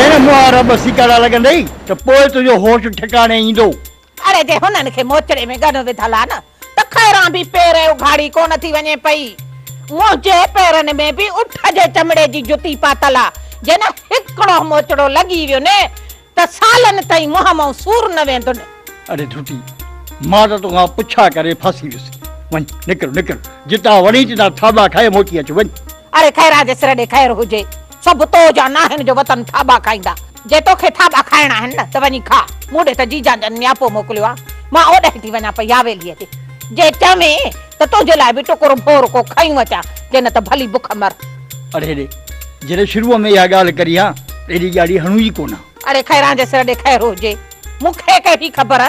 جڏهن مون آ رب سيڪاڙا لڳندئي ته پوء تنهنجو هوش ٺڪاڻي ايندو. اڙي جي هنن کي موچڙي ۾ ڳنو وڌل آ نه ته خيران به پير ۽ اگهاڙي ڪونه ٿي وڃي پئي. منهنجي پيرن ۾ به اٺ جي چمڙي جي جتي پاتل آ جنهن هڪڙو موچڙو لڳي ويو ني ته سالن تائين منهن مئون سور نه ويندن. اڙي ڍٽي، مان ته توکان پڇا ڪري ڦاسي ويس. وڃ، نڪر، نڪر، جتان وڻي تتان ٿاٻا کائي موٽي اچ، وڃ. اڙي خيرا جي سر ڏي خير هجي، سڀ تو جا ناهن جو وتن ٿاٻا کائيندا. جي توکي ٿاٻا کائڻا آهن نه ته وڃي کا، مون ڏي ته جيجان جن نياپو موڪليو آ، مان اوڏهين ٿي وڃان پئي ياويليء تي. جي چوين ته تنهنجي لاء به ٽڪر ڀور ڪو کيون اچان، جي نه ته ڀلي بک مر. اڙي هيڏي، جڏهن شروع ۾ اها ڳالهه ڪري ها ته ايڏي ڄاڙي هڻون ئي ڪونه ها. اڙي خيران جي سر ڏي خير هجي، مون کي ڪهڙي خبر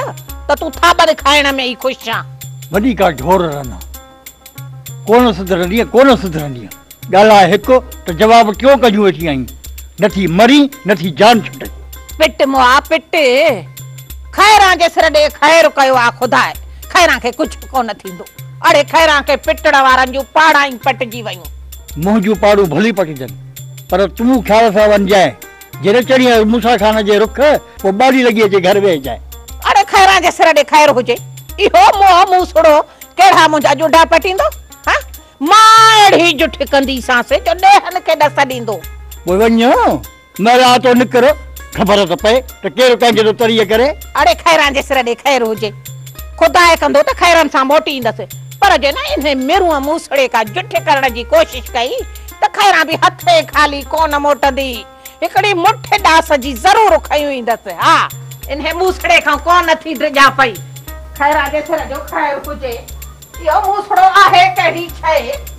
ته تون ٿاٻن کائڻ ۾ ئي خوش آن. وڏي ڪا ڍور رن ها، ڪونه سڌرندينء، ڪونه سڌرندينء، ڳالهاء هڪ ته جواب ٽيون ڪڍيون ويٺي آهين، نه ٿي مرين، نه ٿي جان ڇٽين. پٽ مون آ پٽ، خيران جي سر ڏي خير ڪيو آ خداء، خيران کي ڪجهه به ڪونه ٿيندو. اڙي خيران کي پٽڻ وارن جون پاڙائين پٽجي ويون. منهن جون پاڙون ڀلي پٽجن، پر تون خيال سان وڃجانء، جي نه چڙهين ها موسيٰ خان جي رخ، پوء ٻاڏي لڳي اچي گهر ويهجانء. اڙي خيران جي سر ڏي خير هجي، اهو منهن مون سڙو، ڪهڙا منهنجا ڄوڍا پٽيندو، هان! مان اهڙي جٺ ڪنديسانس، جو ڏيهن کي ڏس ڏيندو. پوء وڃ. ميرا تو نڪر خبر ته پئي ته ڪير ڪنهن جي ٿو تريء ڪري. اڙي خيران جي سر ڏي خير هجي. خدا اهي ڪندو ته خيران سان موٽي ايندس. پر جي نه انهي مرونء موسڙي ڪا جٺ ڪرڻ جي ڪوشش ڪئي ته خيران به هٿين خالي ڪونه موٽندي. هڪڙي مٺ ڏاس جي ضرور کنيون ايندس. ها! انهي موسڙي کان ڪو نه ٿي ڊڄان پئي. خيران جي سر جو خير هجي. اهو موسڙو آهي ڪهڙي شيء.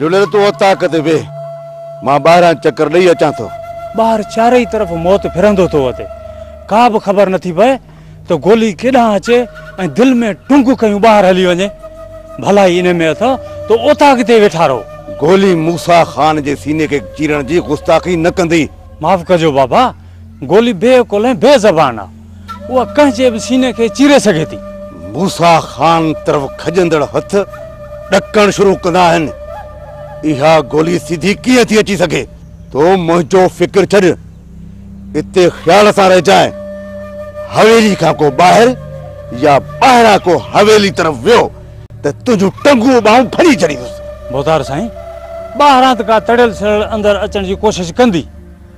جهليل تون اوطاق تي ويهه، مان ٻاهران چڪر ڏئي اچان ٿو. ٻاهر چارئي طرف موت ڦرندو ٿو اچي، ڪا به خبر نٿي پئي ته گولي ڪيڏانهن اچي ۽ دل ۾ ٽنگ ڪيون ٻاهر هلي وڃي. ڀلائي ان ۾ اٿئو ته اوطاق تي ويٺا رهو. گولي موسيٰ خان جي سيني کي چيرڻ جي گستاخي نه ڪندي. معاف ڪجو بابا، گولي بي عقل ۽ بي زبان آ. اها ڪنهن جي به سيني کي چيري سگهي ٿي. موسيٰ خان طرف کڄندڙ هٿ ڏڪڻ شروع ڪندا آهن. اها گولي سڌي ڪيئن ٿي اچي سگهي؟ تو منهنجو فڪر ڇڏ، اتي خيال سان رهجانء. حويلي کان ڪو ٻاهر يا ٻاهران ڪو حويلي طرف ويو ته تنهنجون ٽنگون ٻانهون ڦري ڇڏيندس. بوتار سائين، ٻاهران ته ڪا تڙيل سڙيل اندر اچڻ جي ڪوشش ڪندي.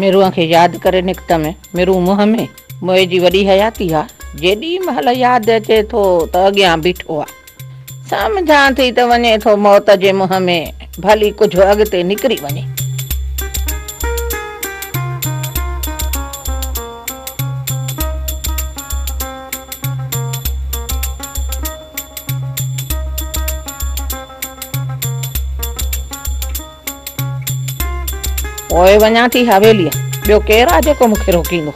ميرون کي ياد ڪري نڪتم، ميرون منهن ۾ موئي جي وڏي حياتي ها، جيڏي مهل ياد اچي ٿو ته اڳيان بيٺو آ. سمجهان ٿي ته وڃي ٿو موت جي منهن ۾. ڀلي ڪجهه اڳتي نڪري وڃي. پوء وڃان ٿي حويليء. ٻيو ڪير آ جيڪو مون کي روڪيندو.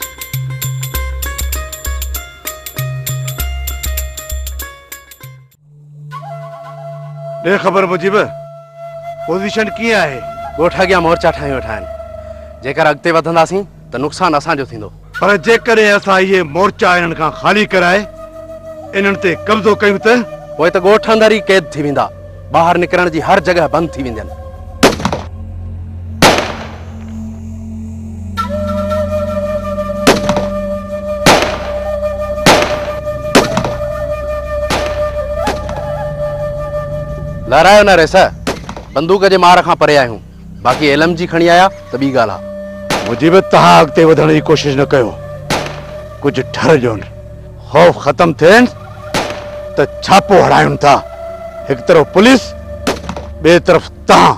ڏي خبر مجيب، پوزيشن ڪيئن آهي؟ ڳوٺ اڳيان مورچا ٺاهي ويٺا آهن. جيڪر اڳتي وڌنداسين ته نقصان اسان جو ٿيندو. پر جيڪڏهن اسان اهي مورچا انهن کان خالي ڪرائي انهن تي قبضو ڪيون ته؟ پوء ته ڳوٺ اندر ئي قيد ٿي ويندا. ٻاهر نڪرڻ جي هر جڳهه بند ٿي ويندين. لارائيو نه ريس بندوق جي مار کان پري آهيون باقي ايل ايم جي کڻي آيا ته ٻي ڳالهه آهي مجيب تهان اڳتي وڌڻ جي ڪوشش نه ڪيو ڪجهه ٺر ڏيون خوف ختم ٿين ته ڇاپو هڙايون ٿا هڪ طرف پوليس ٻي طرف تهان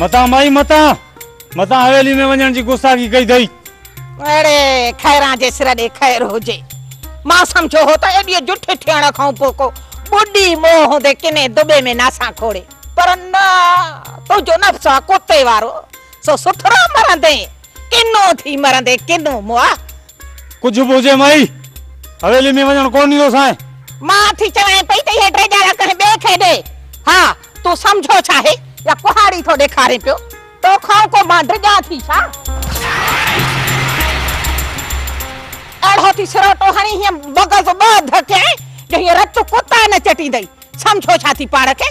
متان مائي متان متان حويلي ۾ وڃڻ جي گستاخي ڪئي اٿئي اڙي خيران جي سر ڏي خير هجي مان سمجهيو هو ته ايڏي جٺي ٿيڻ کان پوء ڪو ٻڏي موهه هوندي ڪنهن دٻي ۾ ناسان کوڙي پر نه تنهنجو نفس آ ڪتي وارو سو سٿرو مرندين. ڪنو ٿي مرندي ڪنو مئا. ڪجهه به هجي مئي، حويلي ۾ وڃڻ ڪونه ڏيندوسانء. مان ٿي چوانء پئي ته اهي ٽي ڄاڙا ڪنهن ٻئي کي ڏي. ها، تون سمجهو ڇا آهي يا ڪهاڙي ٿو ڏيکارين پيو؟ تو کانئن ڪو مان ڊڄان ٿي ڇا؟ اهڙو ٿي سروٽو هڻي هينئن مغز ٻه اڌ ڪيائين جو هيء رت ڪتا نه چٽيندئي. سمجهو ڇا ٿي پاڻ کي؟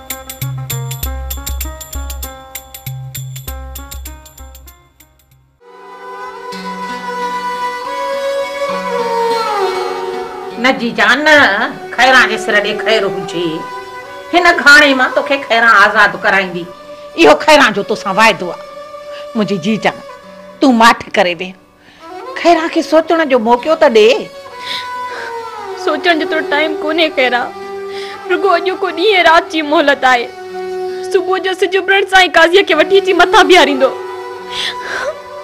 نه جي جان نه، خيران جي سر ڏي خير هجي. هن گهاڻي مان توکي خيران آزاد ڪرائيندي. اهو خيران جو توسان واعدو آ. منهنجي جي جان، تون ماٺ ڪري ويهه. خيران کي سوچڻ جو موقعو ته ڏي. سوچڻ جيترو ٽائيم ڪونهي خيران. رڳو اڄوڪو ڏينهن ۽ رات جي مهلت آهي. صبح جو سج اڀرڻ سان ئي قاضيء کي وٺي اچي مٿان بيهاريندو.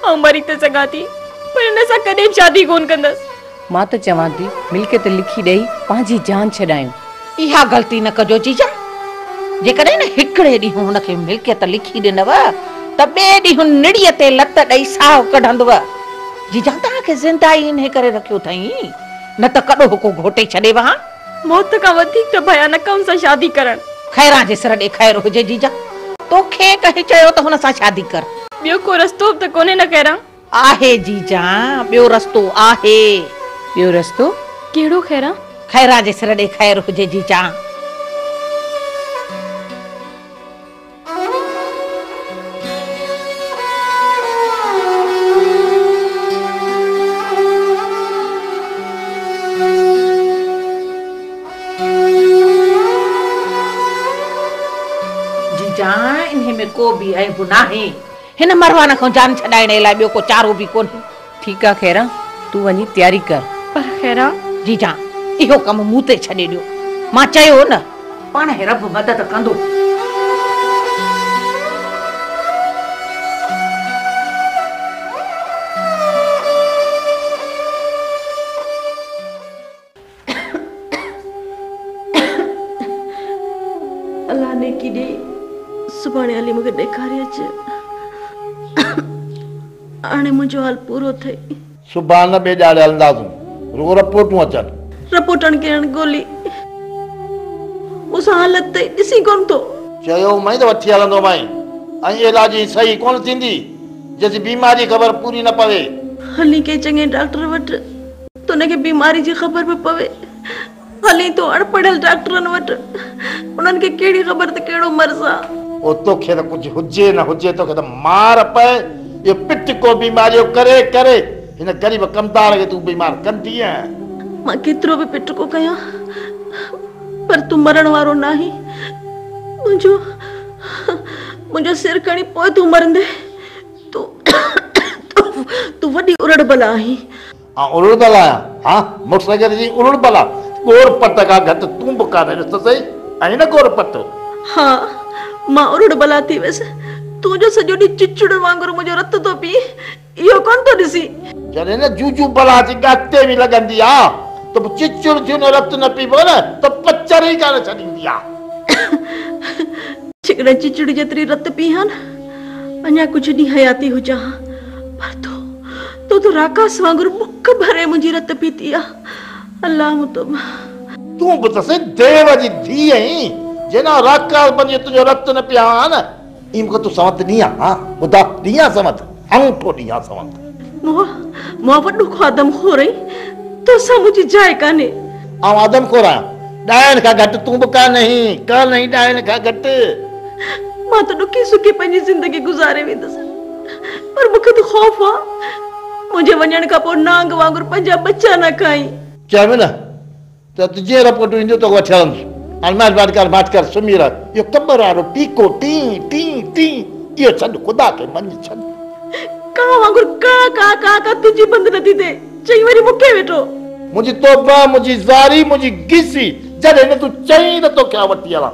آئون مري ته سگهان ٿي پر هن سان ڪڏهن به شادي ڪونه ڪندس. مان ته چوان ٿي ملڪيت لکي ڏئي پنهنجي جان ڇڏايون. اها غلطي نه ڪجو جيجا. جيڪڏهن هڪڙي ڏينهن هن کي ملڪيت لکي ڏنو ته ٻئي ڏينهن نڙيء تي لت ڏئي ساهه ڪڍندو. جيجا توهان کي زنده ئي انهي ڪري رکيو اٿئين نه ته ڪڏو هوڪو گهوٽي ڇڏي وهان. موت کان وڌيڪ ته ڀيان نه ڪم سان شادي ڪرڻ. خيران جي سر ڏي خير هجي جيجا. توکي ڪنهن چيو ته هن سان شادي ڪر. ٻيو ڪو رستو به ته ڪونهي نه خيران. آهي جي جان، ٻيو رستو آهي. ٻيو رستو ڪهڙو خيران؟ خيران جي سر ڏي خير هجي جي جان. جي جان، انهي ۾ ڪو به عيب ناهي. هن مروان کان جان ڇڏائڻ علاوه ٻيو ڪو چارو به ڪونهي. ٺيڪ آ خيران، تون وڃي تياري ڪر. پر خيران! جي جان، اهو ڪم مون تي ڇڏي ڏيو. مان چيو نه. پاڻ هي رب مدد ڪندو. الله نيڪي ڏي سڀاڻي هلي مون کي ڏيکاري اچ هاڻي منهنجو حال پورو ٿئي. صبح نه ٻيڄاڙي هلنداسون رڳو رپورٽون اچن. رپورٽن کي هڻ گولي مون سان حالت ٿئي ڏسين ڪونه ٿو. چيو مئين ته وٺي هلندو مئين ائين علاج جي صحيح ڪونه ٿيندي جيسين بيماري جي خبر پوري نه پوي. هلين ڪنهن چڱي ڊاڪٽر وٽ. ته ان کي بيماري جي خبر به پوي. هلين ٿو اڻپڙهيل ڊاڪٽرن وٽ. انهن کي ڪهڙي خبر ته ڪهڙو مرض آ. او توکي ته ڪجهه هجي نه هجي توکي ته مار پئي. اهو پٽڪو بيماريو ڪري ڪري هن غريب ڪمدار کي تون بيمار ڪندينء. مان ڪيترو به پٽڪو ڪيان پر تون مرڻ وارو ناهين. منهنجو منهنجو سر کڻي پوء تون مرندين. تون تون وڏي ارڙ بلا آهين. آء الڙ بل آهيان، ها، مڙس اگر جي الڙ بل آ، ڳور پٽ کان گهٽ تون به ڪانهين، ڏس ته سهي، آهين نه ڳور پٽ؟ ها، مان الڙ بل آ ٿي ويس، تون جو سڄو ڏينهن چچڙن وانگر منهنجو رت ٿو پئين، اهو ڪونه ٿو ڏسين؟ جڏهن نه جوجو بلا جي ڳاتي ۾ لڳندي آ، ته پوء چچڙ ٿيون نه رت نه پيبو نه ته پچر ئي ڪانه ڇڏيندي آ. جيڪڏهن چچڙ جيتري رت پيئي ها نه، اڃا ڪجهه ڏينهن حياتي هجان ها، پر تون، تو ته راڪاس وانگر بک ڀري منهنجي رت پيتي آ الله مون توبه. تون به ته سائين ديو جي ڌيء آهين جنان راڪاس بنجي تنهنجو رت نه پيان ها نه. اي مون کي تون سنوت ڏينهن ها ها خدا ڏينهن ها سنوت انگوٺو ڏينهن ها سنوت. مون مون وڏو خو آدم خور آهين توسان منهنجي جاء ڪانهي. آئون آدم خور آهيان ڏاهين کان گهٽ تون به ڪانه آهين ڪانه آهين ڏاهين کان گهٽ. مان ته ڏکي سکي پنهنجي زندگي گذاري ويندس. پر مون کي ته خوف آ منهنجي وڃڻ کان پوء نانگ وانگر پنهنجا ٻچا نه کائين. چيائين نه ته تون جيئن رپورٽون اينديون توکي وٺي هلندس. هاڻي مهرباني ڪر ماٺ ڪر سمهي رهه. اهو قبر وارو ٽيڪو ٽين ٽين ٽين اهو ڇڏ خدا کي مڃي ڇڏ. ڪانء وانگر ڪاء ڪاء ڪاء ڪاء تنهنجي بند نه ٿيندي. چئي وري مون کي ويٺو. منهنجي توبه منهنجي زاري منهنجي گيسي جڏهن نه تون چئين ته توکي آء وٺي هلان.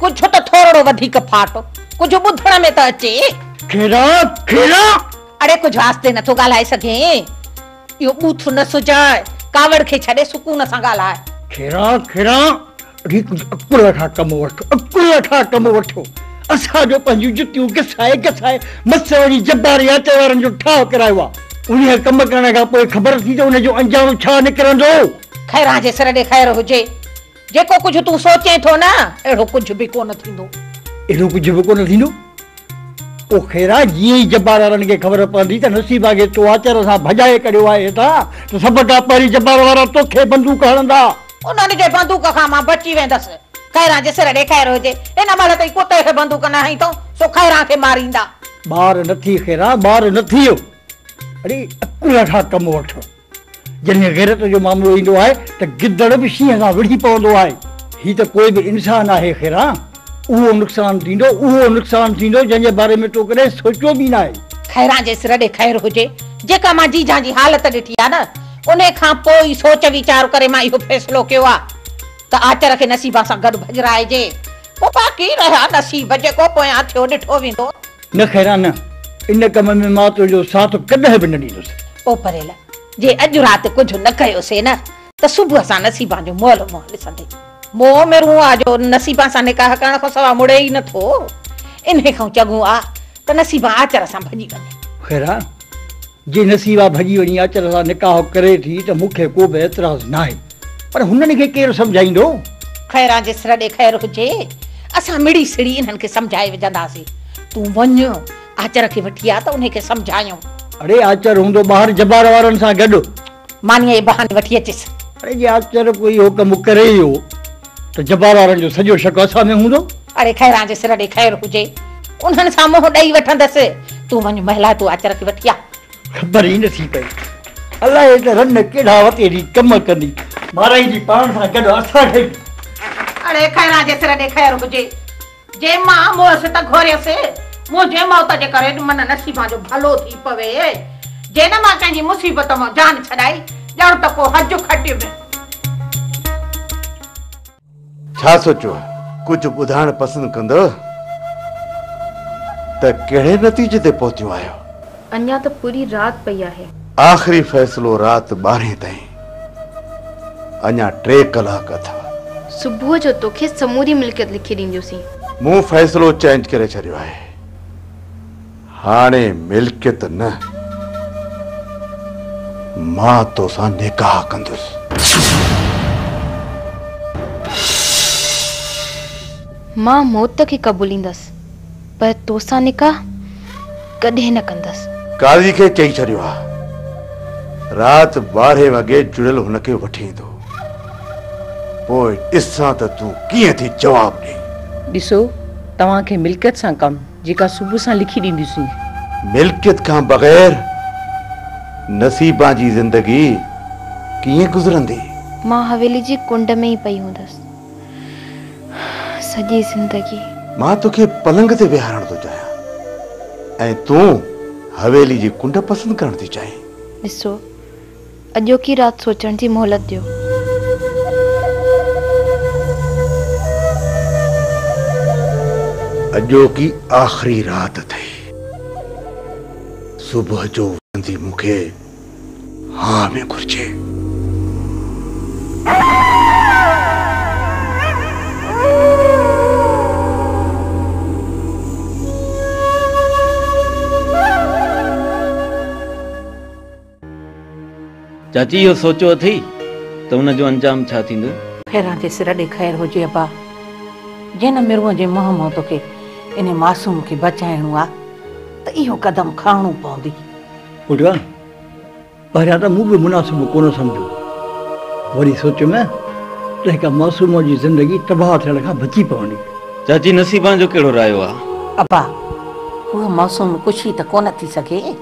ڪجهه ته ٿورڙو وڌيڪ ڦاٽ، ڪجهه ٻڌڻ ۾ ته اچي. کيرا کيرا! اڙي ڪجهه آهستي نٿو ڳالهائي سگهين؟ اهو ٻوٿ نه سجاء، ڪاوڙ کي ڇڏي سڪون سان ڳالهاء. کيرا کيرا! اڙي ڪجهه عقل وٺاء ڪم وٺ، عقل وٺاء ڪم وٺ. اسان جو پنهنجون جتيون گسائي گسائي مس وڙي جبار ياچي وارن جو ٺاهه ڪرايو آهي. انهيء ڪم ڪرڻ کان پوء خبر اٿئي ته ان جو انجام ڇا نڪرندو؟ خيران جي سر ڏي خير هجي. جيڪو ڪجهه تون سوچين ٿو نه، اهڙو ڪجهه به ڪونه ٿيندو. اهڙو ڪجهه به ڪونه ٿيندو؟ او خيران، جيئن ئي جبار وارن کي خبر پوندي ته نصيب آگي تو آچر سان ڀڄائي ڪڍيو آهي هتان، ته سڀ کان پهرين جبار وارا توکي بندوق هڻندا. انهن جي بندوق کان مان بچي ويندس. خيران جي سر ڏي خير هجي. ان مهل تائين ڪتي کي بندوق نه هنئي اٿئون، سو خيران کي ماريندا. ٻار نه ٿي خيران، ٻار نه ٿي. اڙي عقل کان ڪم وٺ. جڏهن غيرت جو معاملو ايندو آهي ته گدڙ به شينهن سان وڙهي پوندو آهي. هي ته پوء به انسان آهي خيرا. اهو نقصان ٿيندو، اهو نقصان ٿيندو جنهن جي باري ۾ تو ڪڏهن سوچيو به ناهي. خيرا جي سر ڏي خير هجي. جيڪا مان جيجان جي حالت ڏٺي آهي نه انهي کان پوء ئي سوچ ويچار ڪري مان اهو فيصلو ڪيو آهي ته آچر کي نصيبان سان گڏ ڀڄرائجي. پوء باقي رهيا نصيب جيڪو پويان ٿيو ڏٺو ويندو. نه خيران نه، ان ڪم ۾ مان تنهنجو ساٿ ڪڏهن به نه ڏيندس. او پريل! جي اڄ رات ڪجهه نه ڪيوسين نه ته صبح اسان نصيبان جو مئل منهن ڏسندي. مون عمر هون آ جو نصيبان سان نڪاح ڪرڻ کان سواء مڙي ئي نه ٿو. انهي کان چڱو آ ته نصيبان آچر سان ڀڄي وڃي. خيران! جي نصيبا ڀڄي وڃي اچر سان نڪاح ڪري ٿي ته مون کي ڪو به اعتراض ناهي پر هنن کي ڪير سمجهائيندو؟ خيران جي سر ڏي خير هجي، اسان مڙي سڙي انهن کي سمجهائي وجهنداسين. تون وڃ آچر کي وٺي آ ته انهي کي سمجهايون. اڙي آچر هوندو ٻاهر جبار وارن سان گڏ. مانيء جي بهاني وٺي اچيس. اڙي جي آچر ڪو اهو ڪم ڪري ئي هو ته جبار وارن جو سڄو شڪ اسان ۾ هوندو. اڙي خيران جي سر ڏي خير هجي، انهن سان منهن ڏئي وٺندس. تون وڃ مهلا تون آچر کي وٺي آ. خبر ئي نه ٿي پئي الائي ته رن ڪهڙا وتي اهڙي ڪم ڪندي. مارائيندي پاڻ سان گڏ اسان کي به. اڙي خيران جي سر ڏي خير هجي. جي مان موهس ته گهوريس، منهنجي موت جي ڪري ته من نصيبان جو ڀلو ٿي پوي، جي نه مان ڪنهن جي مصيبت مان جان ڇڏائي، ڄڻ ته ڪو حج کٽيو ۾. ڇا سوچيو آهي؟ ڪجهه ٻڌائڻ پسند ڪندؤ ته ڪهڙي نتيجي تي پهتيون آهيو؟ اڃا ته پوري رات پئي آهي. آخري فيصلو رات ٻارهين تائين. اڃا ٽي ڪلاڪ اٿا. صبح جو توکي سموري ملڪيت لکي ڏينديونسين. مون فيصلو چينج ڪري ڇڏيو آهي. هاڻي ملڪيت نه، مان توسان نڪاح ڪندس. مان موت کي قبوليندس. پر تو سان نڪاح ڪڏهن نه ڪندس. قاضي کي چئي ڇڏيو آ رات ٻارهين وڳي جڙيل هن کي وٺي ايندو. پوء ڏسان ته تون ڪيئن ٿي جواب ڏئين. ڏسو توهان کي ملڪيت سان ڪم جيڪا صبح سان لکي ڏينديسين. ملڪيت کان بغير نصيبان جي زندگي ڪيئن گذرندي. مان حويلي جي ڪنڊ ۾ ئي پئي هوندس. سڄي زندگي. مان توکي پلنگ تي ويهارڻ ٿو چاهيان ۽ تون حويلي جي ڪنڊ پسند ڪرڻ ٿي چاهين. ڏسو، اڄوڪي رات سوچڻ جي مهلت ڏيو. اڄوڪي آخري رات اٿئي. صبح جو وٺندي مون کي. هاء ۾ گهرجي. چاچي اهو سوچيو اٿئي ته ان جو انجام ڇا ٿيندو؟ خيران جي سر ڏي خير هجي ابا. جنھن مرونء جي منھن مان توکي انھي معصوم کي بچائڻو آ ته اهو قدم کڻڻو پوندي. پٽا! پهريان ته مون به مناسب ڪونه سمجهيو، وري سوچيم ته هڪ معصومه جي زندگي تباهه ٿيڻ کان بچي پوندي. چاچي نصيبان جو ڪهڙو رايو آ؟ ابا! اها معصوم ڪشي ته ڪونه ٿي سگهي.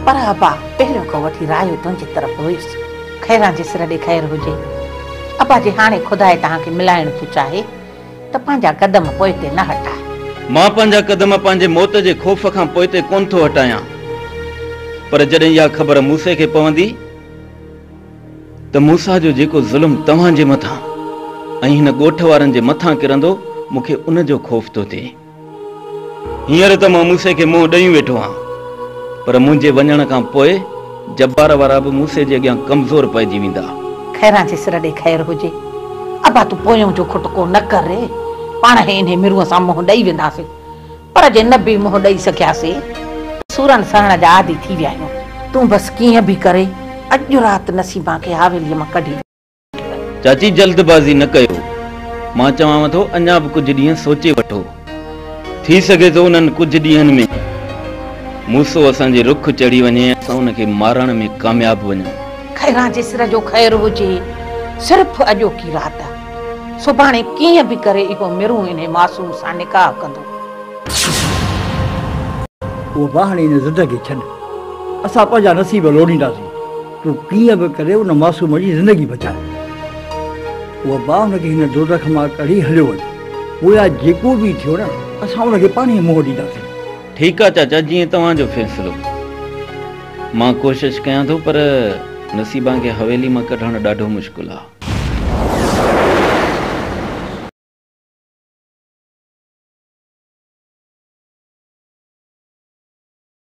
پر ابا! پهريون کان وٺي رايو تنهنجي طرف هيس. خيران جي سر ڏي خير هجي. ابا جي هاڻي خدائي توهان کي ملائڻ ٿو چاهي. ته پنهنجا قدم پوئتي نه هٽاء. مان پنهنجا قدم پنهنجي موت جي خوف کان پوئتي ڪونه ٿو هٽايان، پر جڏهن اها خبر موسي کي پوندي ته موسيٰ جو جيڪو ظلم توهان جي مٿان ۽ هن ڳوٺ وارن جي مٿان ڪرندو، مون کي ان جو خوف ٿو ٿئي. هينئر ته مان موسي کي منهن ڏئي ويٺو آهيان، پر منهنجي وڃڻ کان پوء جبار وارا به موسي جي اڳيان ڪمزور پئجي ويندا. خيران جي سر ڏي خير هجي. ابا تون پويون جو کٽڪو نه ڪر ري. پاڻ هي انهي مرونء سان منهن ڏئي وينداسين. پر جي نه به منهن ڏئي سگهياسين ته سورن سهڻ جا عادي ٿي ويا آهيون. تون بس ڪيئن به ڪري اڄ رات نسيما کي حاويليء مان ڪڍي ڏي. چاچي جلد بازي نه ڪيو، مان چوانو ٿو اڃا به ڪجهه ڏينهن سوچي وٺو، ٿي سگهي ٿو انهن ڪجهه ڏينهن ۾ موسو اسان جي رخ چڙهي وڃي ۽ اسان ان کي مارڻ ۾ ڪامياب وڃون. خيران جي سر جو خير هجي، صرف اڄوڪي رات، سڀاڻي ڪيئن به ڪري اهو مرون انهي معصوم سان نڪاح ڪندو. اهو ٻانهڻي انهي ضد کي ڇڏ، اسان پنهنجا نصيب لوڙينداسين. تو ڪيئن به ڪري ان معصوم جي زندگي بچاء. اها باهه ان کي هن دوزخ مان ڪڍي هليو وڃ. پويا جيڪو به ٿيو نه اسان ان کي پاڻهي منهن ڏينداسين. ٺيڪ آ چاچا جيئن توهان جو فيصلو. مان ڪوشش ڪيان ٿو پر نصيبان کي حويلي مان ڪڍڻ ڏاڍو مشڪل آ.